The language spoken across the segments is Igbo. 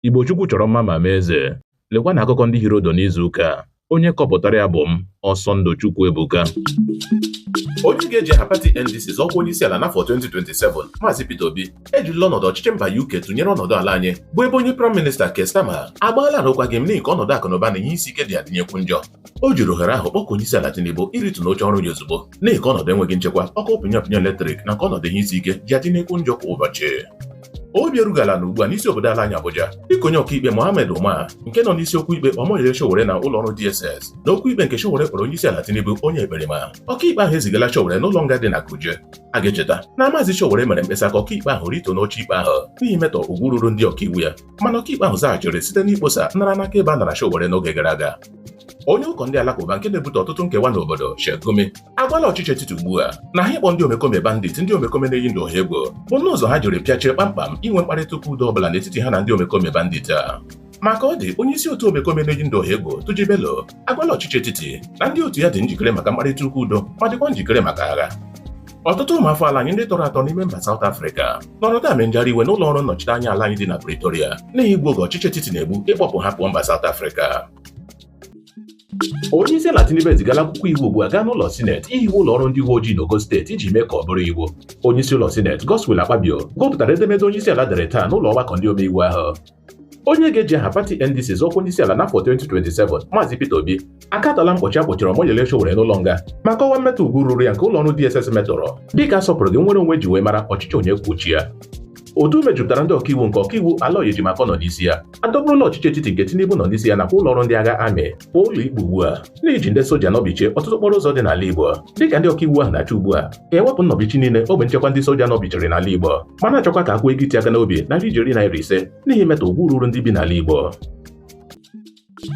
Igbo Chukwu chọrọ mma ma mee eze. Lekwa na akụkọ ndị hiri ụdụ n'izu ụka a. Onye kọpụtara ya bụ m, Ọsọndụ Chukwu Ebuka. Onye ga-eji aha pati NDC zọọ ọkwa onye isi ala n'afọ 2027, Maazị Peter Obi, ejirila ọnọdụ ọchịchị mba UK tụnyere ọnọdụ ala anyị, bụ ebe onye Praịm Minista Keir Starmer agbaala arụkwaghịm n'ihi ka ọnọdụ akụnụba na ihe isi ike ji adịnyekwu njọ. O jiri ohere ahụ kpọkuo onye isi ala Tinubu iritu n'oche ọrụ ya ozugbo n'ihi ka ọnọdụ enweghị nchekwa, ọkụ pịnyapịnya eletrik na ka ọnọdụ ihe isi ike ji adịnyekwu njọ kwa ụbọchị. Obi erughị ala nọ ugbu a n'isi obodo ala anyị Abuja dịka onye ọkaikpe Mohammed Umar nke nọ n'isi okwu ikpe Omoyele Sowore na ụlọ ọrụ DSS n'okwu ikpe nke Sowore kpọrọ onye isi ala Tinubu onye ekperima ọkaikpe ahụ ezigala Sowore n'ụlọ nga dị na Kuje a ga-echeta na maazị Sowore mere mkpesa ka ọkaikpe ahụ rituo n'oche ikpe ahụ n'ihi imetọ ugwu ruru ndị ọkaiwu ya mana ọkaikpe ahụ zaghachiri site n'ikposa nnara n'aka ebe a nara Sowore n'oge gara aga onye ụkọ ndị alakụba nke na-ebute ọtụtụ nkewa n'obodo Sheikh Gumi agwala ọchịchị etiti ugbu a na ha ịkpọ ndị omekome bandit ndị omekome na-eyi ndụ ọha egwu bụ nnọọ ụzọ ha jiri pịachie kpamkpam inwe mkparịta ụka udo ọbụla n'etiti ha na ndị omekome bandit a ma ka ọ dị onye isi otu omekome na-eyi ndụ ọha egwu Turji Bello agwala ọchịchị etiti na ndị otu ya dị njikere maka mkparịta ụka udo ma dịkwa njikere maka agha ọtụtụ ụmụafọ ala anyị ndị tọrọ atọ n'ime mba South Africa nọrọ taa mee njagharị iwe n'ụlọ ọrụ nnọchite anya ala anyị dị na Pretoria n'ihi igbu oge ọchịchị etiti na-egbu ịkpọpụ ha pụọ mba South Africa onye isi ala Tinubu ezigala akwụkwọ iwu ugbu a gaa n'ụlọ sineti ihiwe ụlọ ọrụ ndị uwe ojii n'ogo steeti iji mee ka ọ bụrụ iwu onye isi ụlọ sineti Godswill Akpabio gụpụtara edemede onye isi ala dere taa n'ụlọ ọgbakọ ndị omeiwu ahụ onye ga-eji aha pati NDC zọọ ọkwa onye isi ala n'afọ 2027 Maazị Peter Obi akatọọla mkpọchi a kpọchiri Omoyele Sowore n'ụlọ nga ma kọwaa mmetọ ugwu ruru ya nke ụlọ ọrụ DSS metọrọ dịka asọpụrụghị nnwere onwe e ji wee mara ọchịchị onye kwuo uche ya otu mejupụtara ndị ọkaiwu nke ọkaiwu Aloy Ejimakor nọ n'isi ya adọkpụrụla ọchịchị etiti nke Tinubu nọ n'isi ya nakwa ụlọ ọrụ ndị agha amị pụọ ụlọ ikpe ugbu a n'iji ndị soja nọbichie ọtụtụ okporo ụzọ dị n'ala Igbo dịka ndị ọkaiwu ahụ na-achọ ugbu a ka e wepụ nnọbichi niile ogbe nchekwa ndị soja nọbichiri n'ala Igbo ma na-achọkwa ka a kwụọ ego iti aka n'obi narị ijeri naira ise n'ihi imetọ ugwu ruru ndị bi n'ala Igbo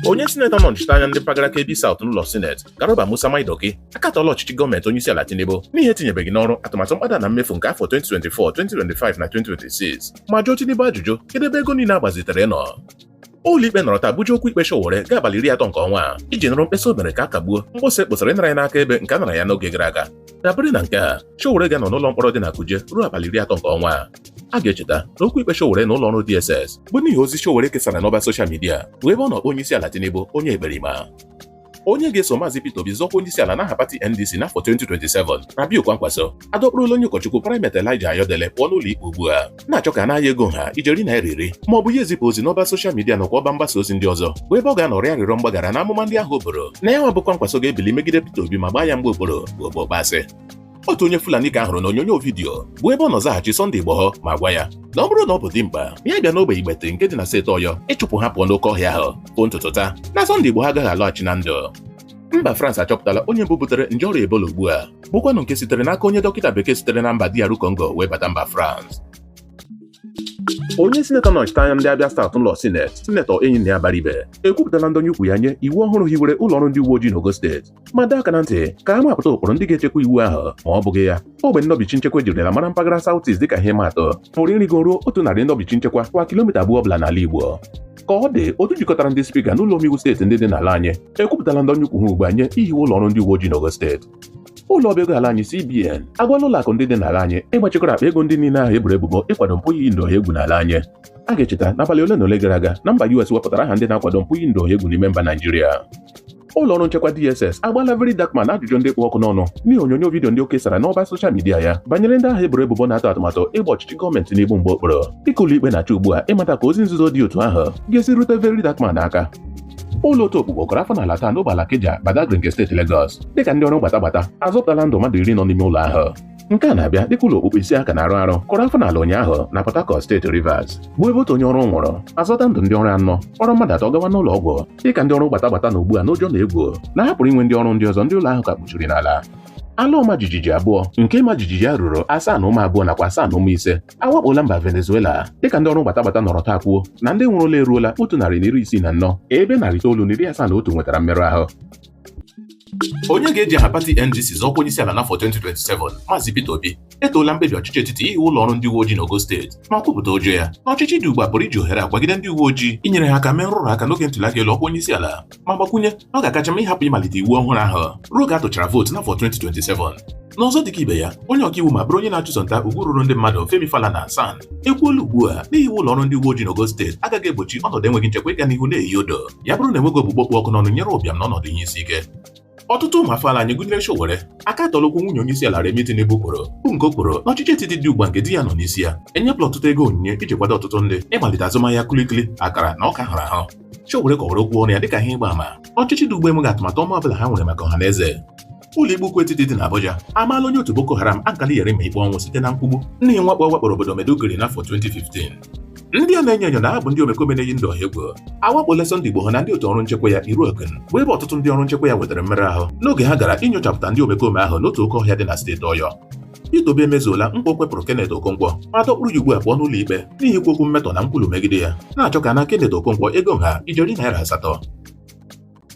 onye sinetọ na-anọchite anya ndị mpaghara Kebbi South n'ụlọ sineti Garba Musa Maidoki akatọọla ọchịchị gọọmenti onye isi ala Tinubu n'ihi etinyebeghị n'ọrụ atụmatụ mkpata na mmefu nke afọ 2024 2025 na 2026 ma jụọ Tinubu ajụjụ kedu ebe ego niile a gbazitere nọ ụlọikpe nọrọ taa buji okwu ikpe Sowore gaa abalị iri atọ nke ọnwa a iji nụrụ mkpesa o mere ka a kagbuo mkposa e kposara ịnara ya n'aka ebe nke a nara ya n'oge gara aga dabere na nke a Sowore ga-anọ n'ụlọ mkpọrọ dị na Kuje ruo abalị iri atọ nke ọnwa a a ga-echeta na okwu ikpe Sowore na ụlọọrụ DSS bụ n'ihi ozi Sowore kesara n'ọba soshal midia bụ ebe ọ nọ kpọọ onye isi ala Tinubu onye ekperima onye ga-eso maazị Peter Obi zọọ ọkwa onye isi ala n'aha pati NDC n'afọ 2027 Rabiu Kwankwaso adọkpụrụla onye ụkọchukwu Primate Elijah Ayodele pụọ n'ụlọ ikpe ugbu a na-achọ ka a naa ya ego ha ijeri naira iri ma ọ bụ ya ezipụ ozi n'ọba soshal midia nakwa ọba mgbasa ozi ndị ọzọ bụ ebe ọ ga-anọ rịọ arịrịọ mgbaghara na amụma ndị ahụ o buru na ya nwa bụ Kwankwaso ga-ebili megide Peter Obi ma gbaa ya mgba okpuru bụ okpokpo asị otu onye Fulani ka a hụrụ n'onyonyo vidiyo bụ ebe ọ nọ zaghachi Sunday Igboho ma gwa ya na ọ bụrụ na ọ bụ dimkpa ya bịa n'ogbe Igbeti nke dị na steeti Ọyọ ịchụpụ ha pụọ n'oke ọhịa ahụ bụ ntụtụ taa na Sunday Igboho agaghị alọghachi na ndụ mba France achọpụtala onye mbụ butere nje ọrịa Ebola ugbu a bụkwanụ nke sitere n'aka onye dọkịta bekee sitere na mba DR Congo wee bata mba France onye sinetọ nọchite anya ndị Abia South n'ụlọ sineti sinetọ Enyinnaya Abaribe ekwupụtala ndonye ukwu ya nye iwu ọhụrụ hiwere ụlọọrụ ndị uwe ojii n'ogo steeti ma dọọ aka na ntị ka a mapụta ụkpụrụ ndị ga-echekwa iwu ahụ ma ọ bụghị ya ogbe ndọbichi nchekwa ejirila mara mpaghara South East dịka ihe ịma atụ pụrụ ịrịgo ruo otu narị ndọbichi nchekwa kwa kilomita abụọ ọbụla n'ala Igbo ka ọ dị otu jikọtara ndị spika n'ụlọ omeiwu steeti ndị dị n'ala anyị ekwupụtala ndonye ukwu ha ugbu a nye ihiwe ụlọ ọrụ ndị uwe ojii n'ogo steeti ụlọ ọba ego ala anyị CBN agwala ụlọ akụ ndị dị n'ala anyị ịgbachikọrọ akpa ego ndị niile ahụ e boro ebubo ịkwado mpụ iyi ndụ ọha egwu n'ala anyị a ga-echeta n'abalị ole na ole gara aga na mba US wepụtara aha ndị na-akwado mpụ iyi ndụ ọha egwu n'ime mba Naijiria ụlọ ọrụ nchekwa DSS agbaala Very Dark Man ajụjụ ndị kpụ ọkụ n'ọnụ n'ihi onyonyo vidiyo ndị o kesara n'ọba soshal midia ya banyere ndị ahụ e boro ebubo na-atụ atụmatụ ịgba ọchịchị gọọmenti Tinubu mgba okpuru dịka ụlọikpe na-achọ ugbu a ịmata ka ozi nzuzo dị otu ahụ ga-esi rute Very Dark Man aka ụlọ otu okpukpu kụrụ afọ n'ala taa n'ogbe Alakija Badagry nke steeti Lagos dịka ndị ọrụ gbata gbata azọpụtala ndụ mmadụ iri nọ n'ime ụlọ ahụ nke a na-abịa dịka ụlọ okpukpu isii a ka na-arụ arụ kụrụ afọ n'ala ụnyaahụ na Port Harcourt steeti Rivers bụ ebe otu onye ọrụ nwụrụ a zọta ndụ ndị ọrụ anọ kpọrọ mmadụ atọ gawa n'ụlọ ọgwụ dịka ndị ọrụ gbata gbata nọ ugbu a n'ụjọ na egwu na ha pụrụ inwe ndị ọrụ ndị ọzọ ndị ụlọ ahụ ka kpuchiri n'ala ala ọma jijiji abụọ nke ịma jijiji ya ruru asaa na ụma abụọ nakwa asaa na ụma ise awakpola mba Venezuela dịka ndị ọrụ gbata gbata nọrọ taa kwuo na ndị nwụrụla eruola otu narị na iri isii na anọ ebe narị itoolu na iri asaa na otu nwetara mmerụ ahụ onye ga-eji aha pati NDC zọọ ọkwa onye isi ala n'afọ 2027 Maazị Peter Obi etoola mkpebi ọchịchị etiti ihiwe ụlọ ọrụ ndị uwe ojii n'ogo steeti ma kwupụta ụjọ ya na ọchịchị dị ugbu a pụrụ iji ohere a kwagide ndị uwe ojii inyere ha aka mee nrụrụ aka n'oge ntụliaka elu ọkwa onye isi ala ma gbakwunye na ọ ga-akacha mma ịhapụ ịmalite iwu ọhụrụ ahụ ruo oge a tụchara vootu n'afọ 2027 n'ọzọ dịka ibe ya onye ọkaiwu ma bụrụ onye na-achụso nta ugwu ruru ndị mmadụ Femi Falana SAN ekwuola ugbu a na ihiwe ụlọ ọrụ ndị uwe ojii n'ogo steeti agaghị egbochi ọnọdụ enweghị nchekwa ịga n'ihu na-eyi odo ya bụrụ na enweghị ogbugbo kpụ ọkụ n'ọnụ e nyere ụbịam na ọnọdụ ihe isi ike ọtụtụ ụmụ afọ ala anyị gụnyere Sowore akatọọla okwu nwunye onye isi ala Remi Tinubu kwuru bụ nke o kwuru na ọchịchị etiti dị ugbu a nke di ya nọ n'isi ya enyepụla ọtụtụ ego onyinye iji kwado ọtụtụ ndị ịmalite azụmahịa kulikuli akara na ọka a hụrụ ahụ Sowore kọwara okwu ọnụ ya dịka ihe ịgba ama ọchịchị dị ugbu a enweghị atụmatụ ọma ọbụla ha nwere maka ọha na eze ụlọikpe ukwu etiti dị n'Abuja amaala onye otu Boko Haram Alkali Yerima ikpe ọnwụ site na nkwugbu n'ihi mwakpo ọ wakporo obodo Maiduguri n'afọ 2015 ndị a na-enyo enyo na ha bụ ndị omekome na-eyi ndụ ọha egwu awakpola Sunday Igboho na ndị otu ọrụ nchekwa ya Iru Ekun bụ ebe ọtụtụ ndị ọrụ nchekwa ya nwetara mmerụ ahụ n'oge ha gara inyochapụta ndị omekome ahụ n'otu oke ọhịa dị na steeti Ọyọ Peter Obi emezuola nkwa o kwepụrụ Kenneth Okonkwo ma dọkpụrụ ya ugbu a pụọ n'ụlọ ikpe n'ihi ikwu okwu mmetọ na nkwulu megide ya na-achọ ka a naa Kenneth Okonkwo ego nha ijeri naira asatọ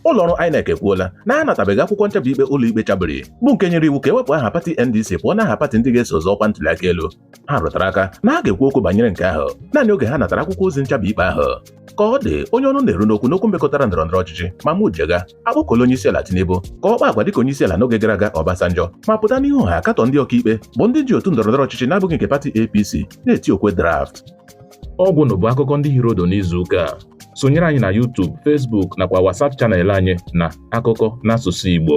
ụlọọrụ INEC ekwuola na ha natabeghị akwụkwọ nchabi ikpe ụlọikpe chabiri bụ nke nyere iwu ka e wepụ aha pati NDC pụọ n'aha pati ndị ga-eso zọọ ọkwa ntụliaka elu ha rụtara aka na ha ga-ekwu okwu banyere nke ahụ naanị oge ha natara akwụkwọ ozi nchabi ikpe ahụ ka ọ dị onye ọnụ na-eru n'okwu n'okwu mmekọtara ndọrọ ndọrọ ọchịchị Mahmood Jega akpọkuola onye isi ala Tinubu ka ọ kpaa agwa dịka onye isi ala n'oge gara aga Obasanjo ma pụta n'ihu ọha katọọ ndị ọkaikpe bụ ndị ji otu ndọrọ ndọrọ ọchịchị na-abụghị nke pati APC na-eti okwe draft ọgwụnụ bụ akụkọ ndị hiri ụdụ n'izu ụka a sonyere anyị na YouTube Facebook nakwa WhatsApp chanel anyị na akụkọ n'asụsụ Igbo